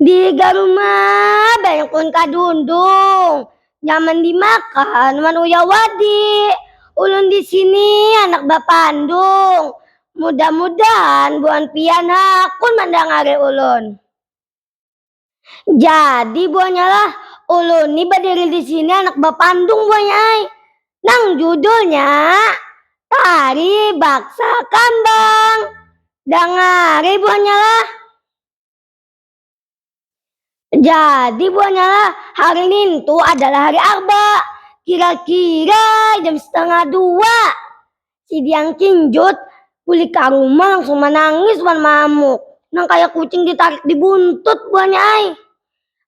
Dihiga rumah banyak pun kadundung. Nyaman dimakan wan uyah wadi. Ulun di sini handak bapandung. Mudah-mudahan buhan pian hakun mandangari ulun. Jadi buhannya lah, ulun ni badiri di sini handak bapandung buhannya ai. nang judulnya Tari Baksa Kambang. Dangari buhannya lah. Jadi buhannya lah, hari nintu adalah hari Arba, kira-kira jam setengah dua. Si Diang Kinjut bulik ka rumah langsung manangis wan maamuk. Nang kaya kucing ditarik di buntut buhannya ai.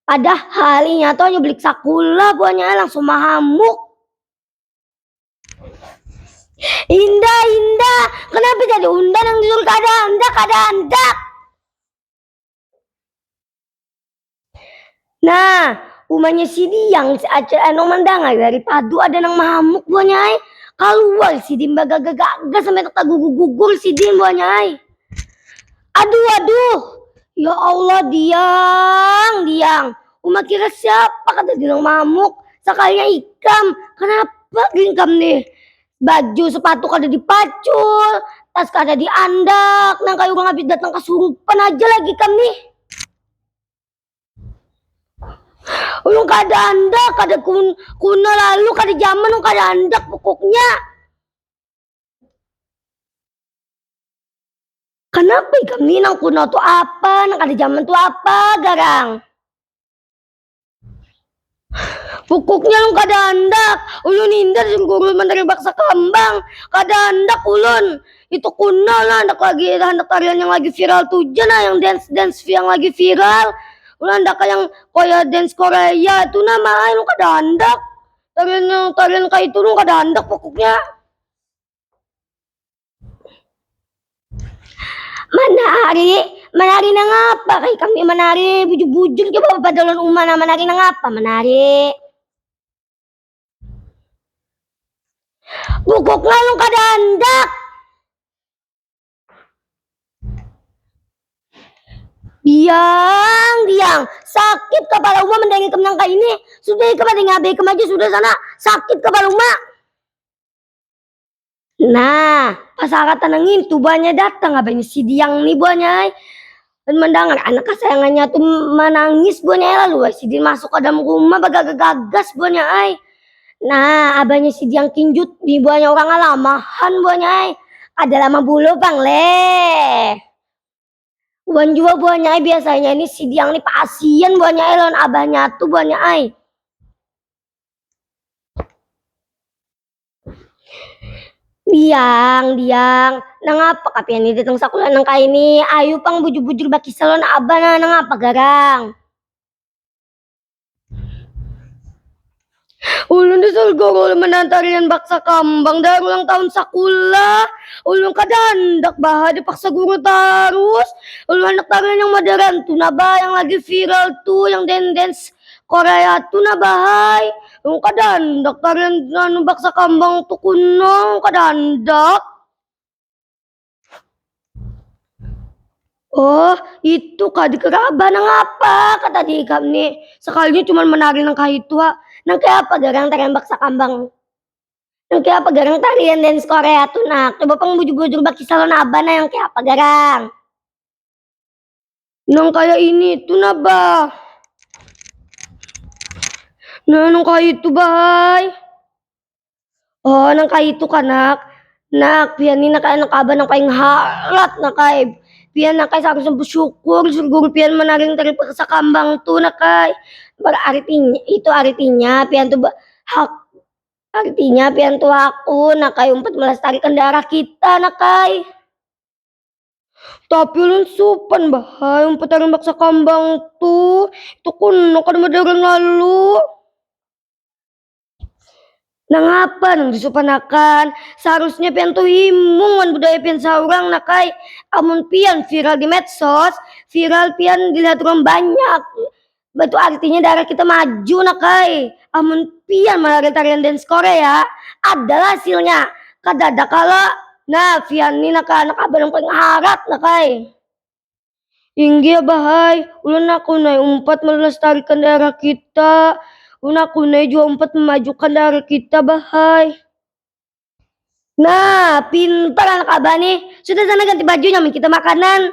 Padahal inya tu hanya bulik sakula buhannya ai langsung mahamuk. Indah, Indah, kenapa jadi unda nang disuruh kada handak, kada handak. Nah, umanya si Diang si Acil Eno mandangar dari padu ada nang mahamuk buahnya ai. Kaluar sidin bagaga-gaga sampai tagugur-gugur sidin buahnya ai. Aduh, aduh. Ya Allah, Diang, Diang. Uma kira siapa kata nang mahamuk? Sakalinya ikam. Kenapa geringkam nih? baju sepatu kada dipacul tas kada diandak nang kayu urang habis datang kasurupan aja lagi kam nih ulun kada andak kada kun kuna lalu kada zaman ulun kada andak pokoknya Kenapa ikam nih nang kuna tu apa nang kada zaman tu apa garang. Pukuknya yang kada handak, ulun hindar jun guru manteri baksa kambang. Kada handak ulun. Itu kunal nah, handak lagi handak tarian yang lagi viral tu ja nah, yang dance-dance yang lagi viral. Ulun handak yang kaya dance Korea tu nah ma ai, ulun kada handak. Tarian yang tarian kaya itu ulun kada handak pukuknya. Manari, manari nangapa kaya kami manari bujur-bujur coba bapadalan uma nah manari nangapa manari. Bukuk ngalung kada handak. Diang, diang, sakit kapala uma mandangi ikam nang kaya ini, sudah ikam ada yang ngabai ikam aja sudah sana, sakit kapala uma. Nah, pas angkatan yang itu banyak datang abahnya si Diang nih buahnya. Dan mendengar anak kesayangannya tuh menangis buahnya lalu si Diang masuk ke dalam rumah bagagas-gagas buahnya ay. Nah, abahnya si Diang kinjut di buahnya orang alamahan buahnya ay. Ada lama bulu bang le. Wan jua buahnya ai biasanya ini si Diang ni pasian buahnya ai lawan abahnya tu buahnya ai. Diang, Diang, nangapa kah pian ni datang sakulah nang kaya ini, ayu pang bujur-bujur bakisah lawan abah nah, nangapa garang. Ulun di surga guru menahan tarian baksa kambang dari ulang tahun sakulah. Ulun kada handak bah dipaksa guru tarus. Ulun handak tarian yang modern tu nah bah, yang lagi viral tu, yang dance dance korea tu nah bahai. Ulun kada handak tarian baksa kambang tu kuno, ulun kada handak. Oh, itu kah dikeraba nang apa kata di ikam ni? Sekalinya cuma menari nang kahitu ha. Nang kaya apa garang tarembak sakambang? Nang kaya apa garang tarian dance Korea tu nak? Coba pang bujur-bujur bakisah lawan abah nah nang kaya apa garang? Nang kaya ini tuh nah bah. Nah nang kaya itu bah. Oh nang kaya itu kanak. Nak pian ini nak anak abah nang paling halat nak kai. Pian nak kai seharusnya bersyukur surgung pian menaring dari paksa kambang tuh nak kai. Berartinya itu artinya pian tuh hak artinya pian tuh aku nak kai untuk melestarikan darah kita nak kai. Tapi ulun supan bahai umpat aran baksa kambang tu. Itu kuno kada madaran lalu. Nangapa nang disupanakan? Seharusnya pian tuh himung wan budaya pian saurang nak ai. Amun pian viral di medsos, viral pian dilihat urang banyak. Batu artinya darah kita maju nak kai. Amun pian malari tarian dance Korea, adalah hasilnya. Kadada kalo. Nah, pian ni nak anak abah nang paling harat nak kai. Inggih abah ai, ulun aku nai umpat melestarikan daerah kita. Ulun aku nai jua umpat memajukan daerah kita bah ai. Nah, pintar anak abah nih. Sudah sana ganti bajunya, amun kita makanan.